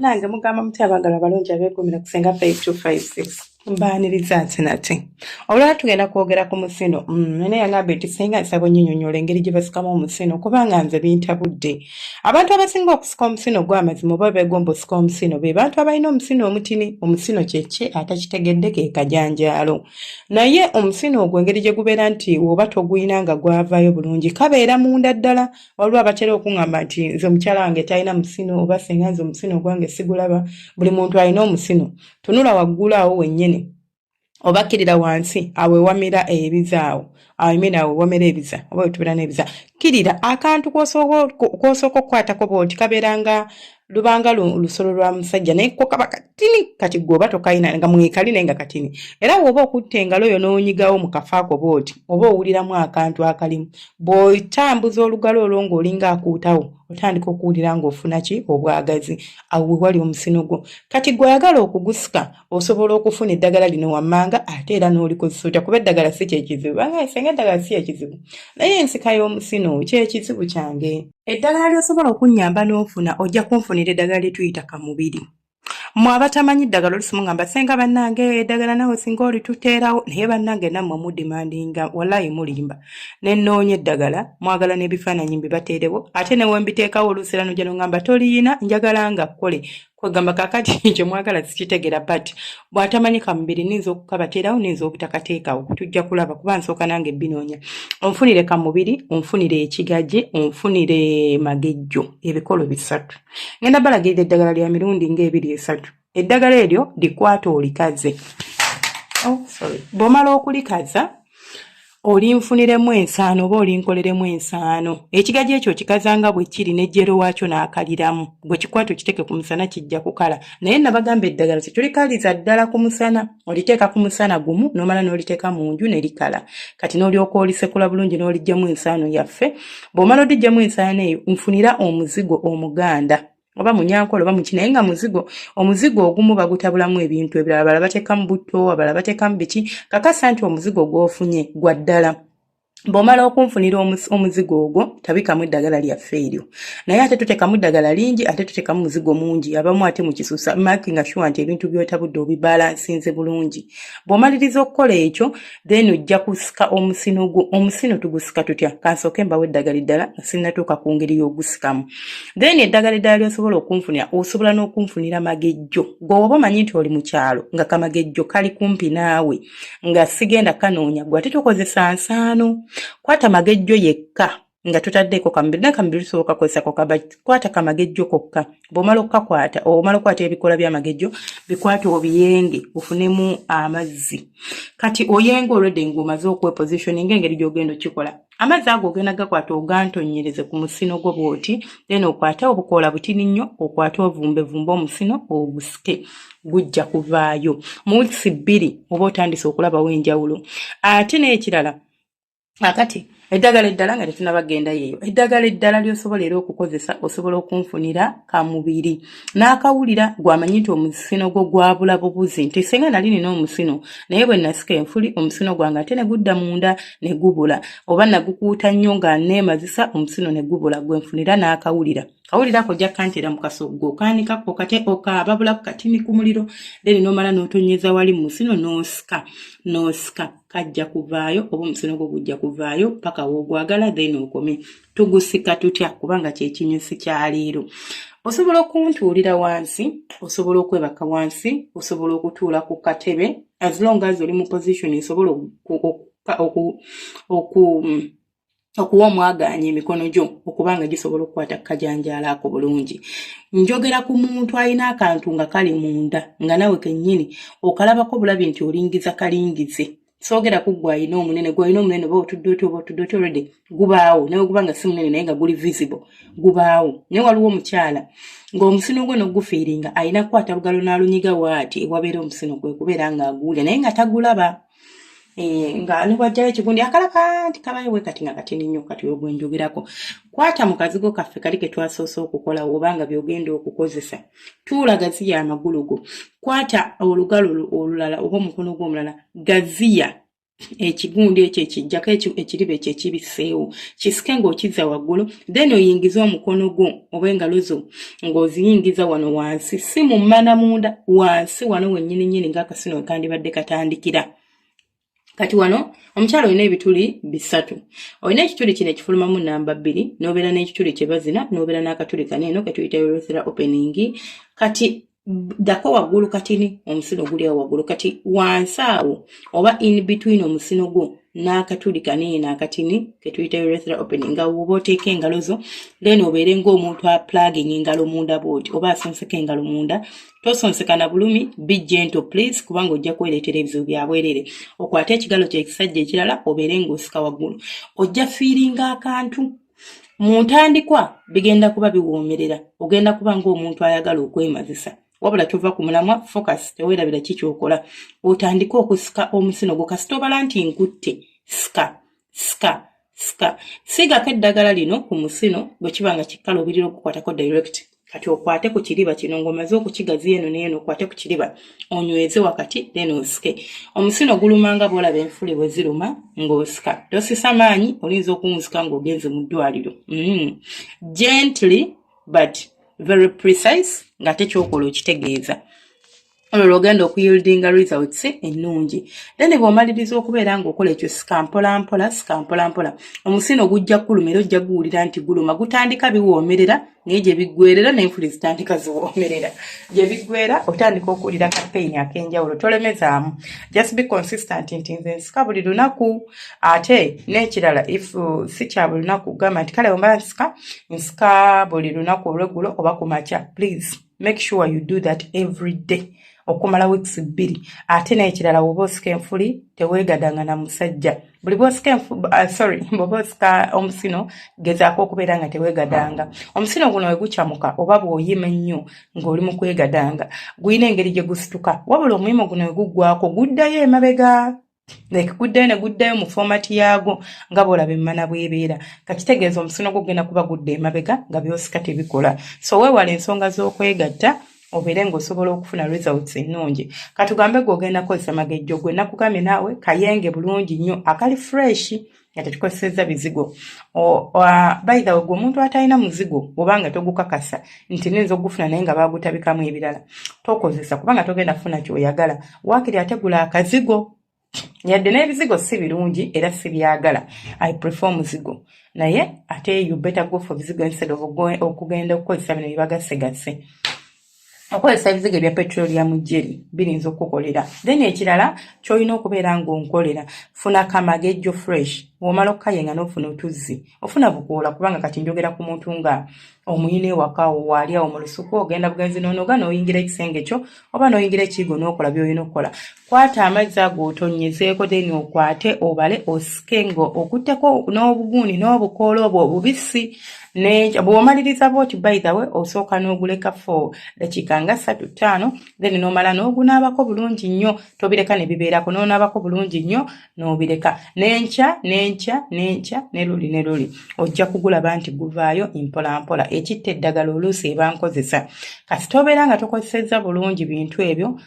nange mugamba muti abagala balungi abegumira kusenga 5256 mbaniriza nti nati olwala tugenda kwogera ku musino mm, naye yangamba eti senga nsaba onyinyonyola engeri gye basikamu omusino kubanga nze bintabudde Abantu abasinga okusika omusino ogw'amazima oba beegomba osika omusino be bantu abalina omusino omutini. Omusino kye ki? Atakitegedde ke kajanjaalo. Naye omusino ogwo engeri gye gubeera nti oba togulina nga gwavaayo bulungi kabeera munda ddala. Waliwo abatera okungamba nti nze omukyala wange talina musino oba singa nze omusino ogwange sigulaba. Buli muntu alina omusino. Tunula waggulu awo wennyini. obakkirira wansi awo ewamira ebiza awo awo imina awo ewamira ebiza oba wetubira n'ebiza kkirira akantu kwosooka okukwatako bwoti kabeeranga lubanga lusolo lwa musajja naye ko kaba katini kati gweoba tokalina nga mwekali naye nga katini era woba okutta engalo oyo n'onyigawo mu kafaako bwoti oba owuliramu akantu akalimu bw'otambuza olugalo olwo ng'olinga akuutawo otandika okuwulira ng'ofuna ki obwagazi awo wewali omusino gwo kati gweoyagala okugusika osobola okufuna eddagala lino wammanga ate era n'olikozesa otya kuba eddagala si kyekizibu banga fenga eddagala si ekizibu naye ensika y'omusino kyekizibu kyange eddagala lyosobola okunnyamba n'ofuna ojja kunfunira eddagala lyetuyita ka mubiri mwe abatamanyi ddagala olusimu ngamba senga bannange eddagala nawe singa olituteerawo naye bannange nammwe mudimandinga walayi mulimba nenoonya eddagala mwagala n'ebifaananyi mbibateerewo ate newembiteekawo oluusi era nojja nongamba toliyina njagala nga kkole kwegamba kakati ekyo mwagala sikitegera but bwatamanyi kamubiri ninza okukabaterawo ninza obutakateekawo tujja kulaba kuba nsooka nange binoonya onfunire kamubiri onfunire ekigaje onfunire magejjo ebikolo bisatu ngenda balagirira eddagala lya mirundi ngaebiri esatu eddagala eryo likwata olikaze oh, bwomala okulikaza olinfuniremu ensaano oba olinkoleremu ensaano ekigaji ekyo kikazanga bwe kiri nejjero waakyo n'akaliramu gwe kikwata okiteeke ku musana kijja kukala naye nabagamba eddagala ti tulikaliza ddala ku musana oliteeka ku musana gumu n'omala n'oliteeka mu nju ne likala kati n'olyoka olisekula bulungi n'olijjamu ensaano yaffe bw'omala odijjamu ensaano eyo nfunira omuzigo omuganda oba munyankole oba muki naye nga muzigo omuzigo ogumu bagutabulamu ebintu ebirala abala batekamu butto abala batekamu biki kakasa nti omuzigo gwofunye gwa ddala bw'omala okunfunira omuzigo ogwo tabikamu eddagala lyaffe eryo naye ate tutekamu eddagala lingi ate tutekamu muzigo mungi abamu ate mukisusa makinga shuwa nti ebintu byotabudde obibalansinze bulungi bw'omaliriza okukola ekyo then ojja kusika omusino gwo omusino tugusika tutya kansooke mbawo eddagala eddala nga sinnatuuka ku ngeri y'ogusikamu then eddagala eddala lyosobola okunfunira osobola n'okunfunira magejjo gwe oba omanyi nti oli mu kyalo nga kamagejjo kali kumpi naawe nga sigenda kanoonya gwe ate tokozesa nsaano kwata magejjo yekka nga totaddeeko kamubiri naye kamubiri tusobola kakozesako kaba kwata kamagejjo kokka bwomala okukakwata omala okukwata ebikoola byamagejjo bikwate obiyenge ofunemu amazzi kati oyenga olwedde ngaomaze okwepositioning engeri gyogenda okikola amazzi ago ogenda gakwata ogantonyereze ku musino gwo bwoti then okwate obukoola butini nnyo okwate ovumbevumbe omusino ogusike gujja kuvaayo mu wiisi bbiri oba otandise okulabawo enjawulo ate n'ekirala akati eddagala eddala nga tetunaba genda yeeyo eddagala eddala lyosobola era okukozesa osobola okunfunira kamubiri n'akawulira gwamanyi nti omusino gwo gwabula bubuzi nti senga nali nina omusino naye bwe nasika enfuli omusino gwange ate ne gudda munda ne gubula oba nagukuuta nnyo nga neemazisa omusino ne gubula gwe nfunira n'akawulira kawulira ako ojja kantera mu kasoggo okaanikako kate okaababulako katini ku muliro then nomala n'otonnyeza wali mu musino n'osika n'osika kajja kuvaayo oba omusolo gwo gujja kuvaayo paka wogwagala then okome tugusika tutya kubanga kyekinyusi kyaleero osobola okuntuulira wansi osobola okwebaka wansi osobola okutuula ku katebe as long as oli mu position esobola oku okuwa omwagaanya emikono gyo okuba nga gisobola okukwata kukajanjaalo ako bulungi njogera ku muntu alina akantu nga kali munda nga nawe kennyini okalabako bulabi nti olingiza kalingize soogera ku gwe alina omunene gwe alina omunene oba otudde otya oba otudde otya olwedde gubaawo nawe guba nga si munene naye nga guli visible gubaawo naye waliwo omukyala ng'omusino gwe nogufiiringa alina kukwata lugalo n'alunyiga waati ewabeera omusino gwe kubeera ng'aguwulira naye nga tagulaba Eh, nga nibwajjawo ekigundi akalaka nti kabayo bwe kati nga katini nnyo kati wegwenjogerako kwata mu kazigo kaffe kali ke twasoose okukola oba nga byogenda okukozesa tuula gaziya amagulu go kwata olugalo olulala oba omukono gwo omulala gaziya ekigundi ekyo ekijjako ekiriba ekyo ekibiseewo kisike ng'okizza waggulu then oyingize omukono gwo oba engalo zo ng'oziyingiza wano wansi si mu mmana munda wansi wano wennyini nyini ng'akasino wekandibadde katandikira kati wano omukyala olina ebituli bisatu olina ekituli kino ekifulumamu namba bbiri n'obeera n'ekituli kyebazina n'obeera n'akatuli kano eno ketuyita urethra opening kati dako waggulu katini omusino guli awo waggulu kati wansi awo oba in between omusino gwo n'akatuli kanene n'akatini ketuyita urethra opening nga woba oteeka engalo zo then obeere ng'omuntu aplaging engalo munda bwoti oba asonseka engalo munda tosonseka na bulumi be gentle please kubanga ojja kwereetera ebizibu byabwerere okwate ekigalo kyekisajja ekirala obeere ng'osika waggulu ojja fiiringa akantu mu ntandikwa bigenda kuba biwoomerera ogenda kuba ng'omuntu ayagala okwemazisa wabula tova ku mulamwa focus teweerabira ki kyokola otandike okusika omusino gwo kasita obala nti nkutte sika sika sika siigako eddagala lino ku musino bwe kiba nga kikkala obirira okukwatako direct kati okwate ku kiriba kino ng'omaze okukigaziya eno neeno okwate ku kiriba onyweze wakati then osike omusino guluma nga bwolaba enfuli bwe ziruma ng'osika tosisa maanyi oyinza okuwunzika ng'ogenze mu ddwaliro mm. gently but very precise ng'ate kyokola okitegeeza olwo lwogenda okuyildinga results ennungi then bwomaliriza okubeera ngaokola ekyo sikampolampola sikampolampola omusino gujja kuluma era ojja guwulira nti guluma gutandika biwoomerera naye gye biggwerera nenfuli zitandika ziwoomerera gye biggwera otandika okuwulira kapeyini ak'enjawulo tolemezaamu just be consistent nti nze nsika buli lunaku ate n'ekirala if uh, si kya buli lunaku kugamba nti kale wemba nsika nsika buli lunaku olweggulo oba ku makya please make sure you do that every day okumala weeks bbiri ate n'ekirala woba osika enfuli teweegadanga na musajja buli bwosika uh, sorry bwoba osika omusino gezaako okubeera nga teweegadanga omusino guno we gucamuka oba bw'oyima ennyo ng'oli mu kwegadanga gulina engeri gye gusituka wabula omuyimu guno we guggwako guddayo emabega like guddayo ne guddayo mu fomati yaago nga bwolaba emmana bwebeera nga kitegeeza omusino gwo gugenda kuba gudda emabega nga byosika tebikola so weewala ensonga z'okwegatta obeere ng'osobola okufuna results ennungi katugambe gwe ogenda kozesa magejjo gwe nakugambye naawe kayenge bulungi nnyo akali freshi nga tetukozesezza bizigo baitha wegwe omuntu atalina muzigo obanga togukakasa nti ninza okugufuna naye nga bagutabikamu ebirala tokozesa kubanga togenda kufuna kyoyagala wakiri ategula akazigo yadde n'ebizigo si birungi era sibyagala i prefer omuzigo naye ate you better go for bizigo instead of okugenda okukozesa bino byebagasegase okozesa ebizigo ebya petroleum jeri birinza okukukolera then ekirala kyolina okubeera ngaonkolera funa kamagejjo fresh womala okukayenga nofuna otuzzi ofuna bukoola kubanga kati njogera ku muntu nga omuyina ewakawo waali awo mu lusuku ogenda bugenzi nonoga noyingira ekisenge kyo oba noyingira ekiigo nokola byolina okukola Kwata amazzi ago otonyezeeko deni okwate obale osike nga okutteko n'obugundi n'obukoola obwo obubisi bwomaliriza bwoti by the way osooka n'oguleka for dakiika nga ssatu ttaano then n'omala n'ogunaabako bulungi nnyo tobireka ne bibeerako n'onaabako bulungi nnyo n'obireka n'enkya n'enkya n'enkya ne luli ne luli ojja kugulaba nti guvaayo mpolampola ekitta eddagala oluusi ebankozesa kasita obeera nga tokozesezza bulungi bintu ebyo